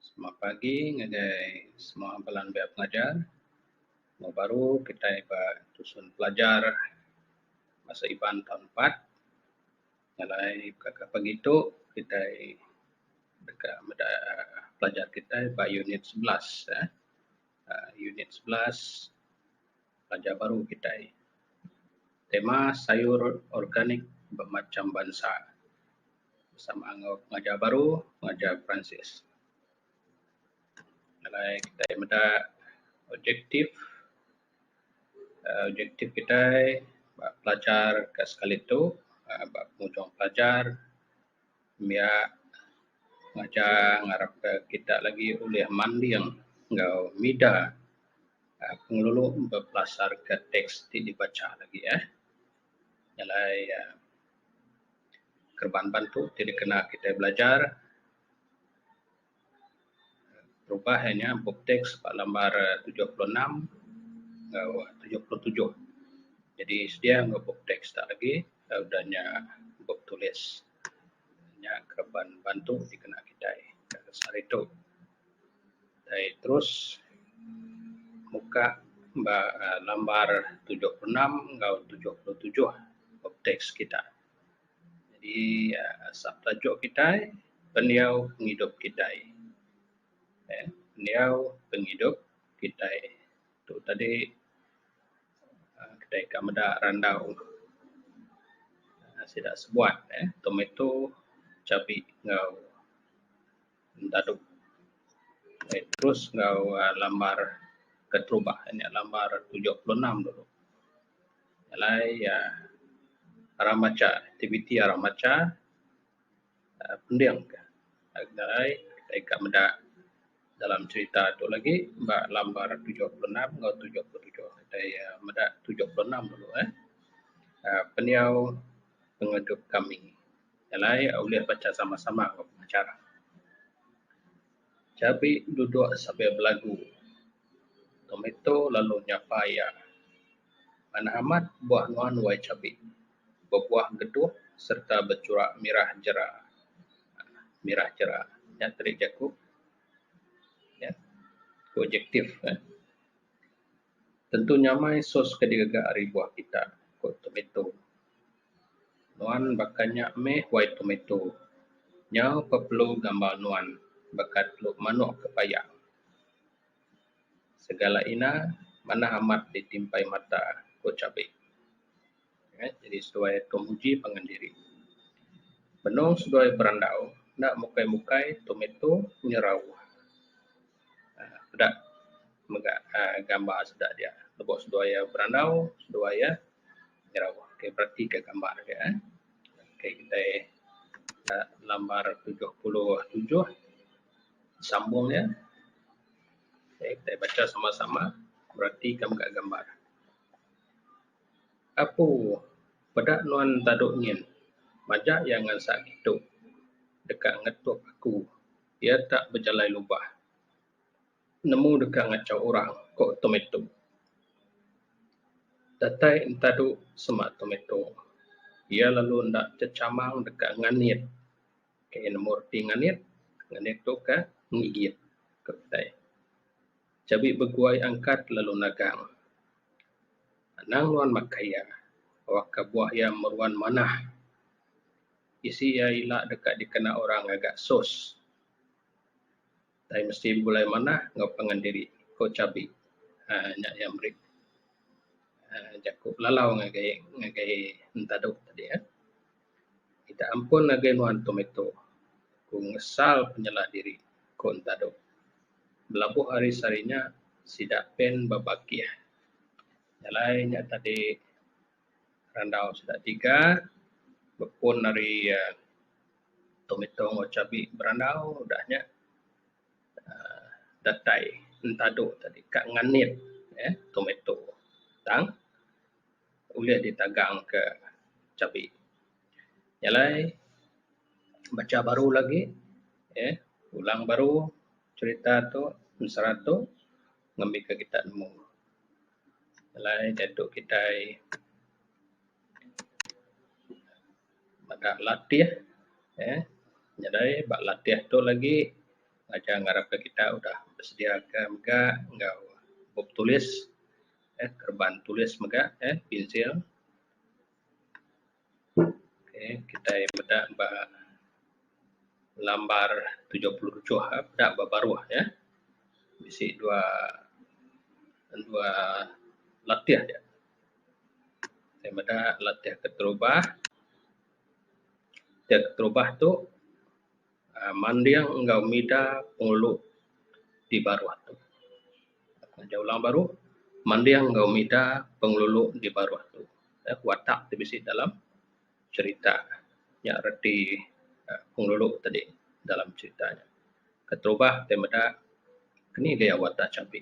Selamat pagi ngagai semua bala nembiak pengajar. Moh baru kitai ba tusun pelajar Bahasa Iban taun empat. Jalai baka pagi tu kitai deka meda aaa pelajar kitai ba unit sebelas aaa. Aaa unit sebelas pelajar baru kitai. Tema sayur organik bemacam bansa. bersama enggau pengajar baru pengajar peransis alai kitai meda objektif um objektif kitai ba pelajar ka sekali tu um ba penguntung pelajar mia ngajar ngarap ka kita lagi ulih manding enggau mida um pengelulu bepelasarka teks ti dibacha lagi um jalai kereban bantu ti dikena kitai belajar berubah iya nya bup teks ba lambar tujuh puluh enam enggau tujuh puluh tujuh jadi sedia enggau bup teks da agi udah nya bup tulis. nya ke ban bantu dikena kitai sehari tu tai terus muka ba um lambar tujuh puluh enam enggau tujuh puluh tujuh of tax kita. Jadi um asap tajuk kitai pendiau pengidup kitai um pendiau pengidup kitai. Tu tadi uhh kitai ka meda randau uhh sida sebuat uhh tomato, cabi enggau dadu uhh terus enggau uhh lambar keterubah en nya lambar tujuh puluh enam dulu. Alai uhh arang macha aktiviti arang macha. Pending ka ngagai kitai ka meda dalam cerita tu lagi ba lambar tujuh puluh enam enggau tujuh puluh tujuh. Kitai meda tujuh puluh enam dulu eh. uhh Pendiau pengeredup kami. Jalai ulih bacha sama sama enggau pengajar. Chabi duduk sambil belagu. Tomato lalu nyapa iya. Manah amat buah nuan wai chabi. bebuah getuh sereta bechurak mirah jera. Mirah jera. Nya tadi jaku nya ku adjektif ne. Tentu nyamai sos ke digaga ari buah kita ku tometo. Nuan baka nya meh wai tometo. Nyau pa perlu ngambal nuan baka telu manok ke payang. Segala ina manah amat ditimpai mata, ku Chabik. Neh jadi seduai tu nguji pangan diri. Benung seduai berandau enda mukai mukai tomato nyerau aaa peda mega aaa gambar sida dia lebu seduai iya berandau seduai iya nyerau. Okey bereti ka gambar agi eh. Okey kitai ka lambar tujuh puluh tujuh sambung iya. Okey kitai bacha sama sama bereti ka mega gambar. Apu, peda nuan tadu nyin. Majak iya ngansak ditu deka ngetuk aku. Iya tak bejalai lubah. Nemu deka ngachau orang, ko Tomato. Datai entadu sema Tomato. Iya lalu enda chechamang deka nganit. Okey nombor ti nganit, nganit tu ka ngigit ka utai. Cabi beguai angkat lalu nagang. Anang nuan makai iya, awak ka buah iya meruan manah. Isi iya ila deka dikena orang ngaga sos. Utai mesti bulai manah enggau pangan diri, ku Chabi. uhh nya iya meri uhh jaku lalau ngagai ngagai entadu tadi uhh. Kita ampun ngagai nuan tomato, ku ngesal penyela diri, ku entadu. Belabuh ari sehari nya, sida pen ba bakih. Jalai nya tadi randau sida tiga bepun ari uhh. Tomato enggau cabi berandau udah nya uhh datai entadu tadi ka nganit uhh tomato tang ulih ditagang ka cabi. Nya alai bacha baru lagi uhh pulang baru cherita tu penserat tu ngambi ka kita nemu. Nya alai diatu kitai. meda latih uhh nyadai ba latih tu lagi aja ngarap ka kita udah bersedia ka mega enggau bup tulis uhh kereban tulis mega uhh pensil uhh kitai meda ba lambar tujuh puluh uchuh uhh peda ba baruh nya bisi dua dua latih ja. Saya meda latih keterubah. Latih keterubah tu uhh manding enggau mida pengulu ti baruh tu. Ngajah orang baruh manding enggau mida pengelulu ti baruh tu. Nya watak ti bisi dalam cherita. Nya reti uhh pengelulu ti tadi dalam cherita nya. Keterubah ti meda keni dia watak champi.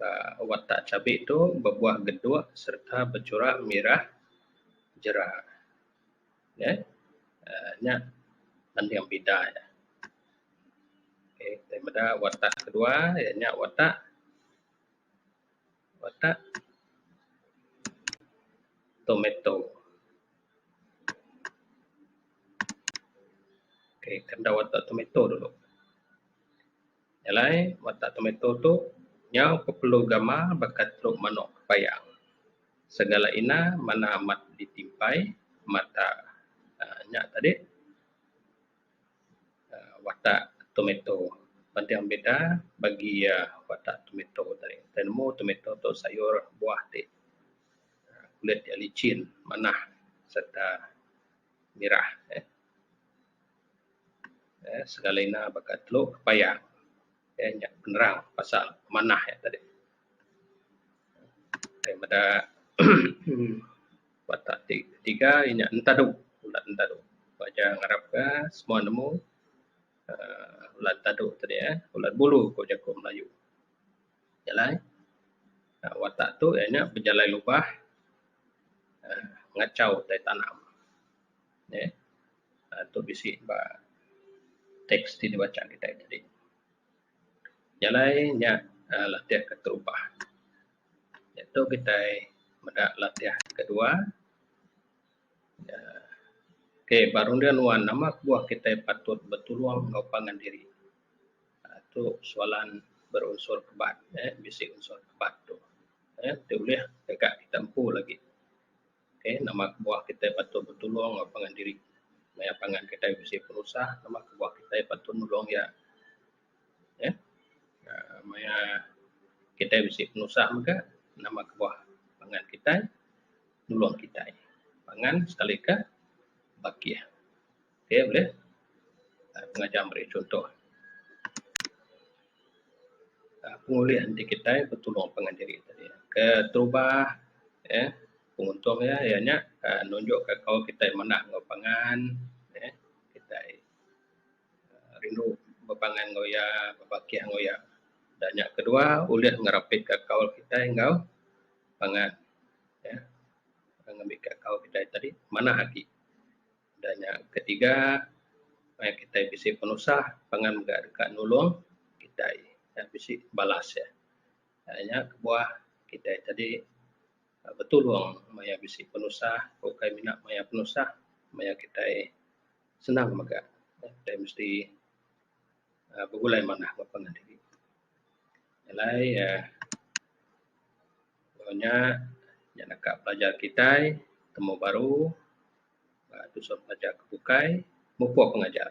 uhh watak chabi tu bebuah geduk sereta bechurak mirah jera neh uhh nya mending pida iya. Okay tai meda watak kedua iya nya watak watak tomato. Okay kenda watak tomato dulu. Nya alai watak tomato tu nyau ku perlu gamal baka teruk manok payang. Segala ina manah amat ditimpai mata uhh nya tadi uhh watak tomato. Penting beda bagi iya watak tomato tadi. Tau nemu tomato tu sayur buah ti kulit iya lichin, manah sereta mirah. eee sekali ina baka telu paya eee nya penerang pasal manah nya tadi eee emm meda baka ti tiga nya entadu bala entadu pak jah ngarap ka semua nemu eee bala entadu tadi eh bala bulu ku jaku melayu jalai watak tu iya nya bejalai lubah eee ngachau tai tanam eee. uhh tu bisi ba teks ti dibacha kitai tadi. Jalai nya uhh latih ke terubah nya tu kitai meda latih kedua uhh okay ba runding enda nuan nama kebuah kitai patut betulung enggau pangan diri uhh tu soalan berunsur kebat uhh bisi unsur kebat tu uhh ti ulih deka kita empu lagi. Okay, nama kebuah kitai patut betulung enggau pangan diri maya pangan kitai bisi penusah? Nama kebuah kitai patut nulung iya? Eee maya kitai bisi penusah mega, nama kebuah pangan kitai nulung kitai? Pangan sekalika bakih. Okey boleh. Ah, pengajar meri contoh. Ah, pengulih enti kita bertolong pangan diri tadi. Keterubah ya, eh, penguntung ya ia nya ah, nunjuk ke kau kita manah enggau pangan ya, eh, kita ah, rindu bepangan enggau ia, bebakih enggau ia. Dan nya kedua ulih ngerapitka kaul kita enggau pangan ya, eh, ngambika kaul kita tadi manah agi. Udah nya ketiga maya kitai bisi penusah pangan mega deka nulung kitai nya bisi balas iya. Aaa nya kebuah kitai tadi betulung maya bisi penusah tau kai mina maya penusah maya kitai senang mega kitai mesti aaa begulai manah ba pangan diri. Alai aaa nya naka pelajar kitai temu baru tusah pelajar ke bukai mupuk pengajar.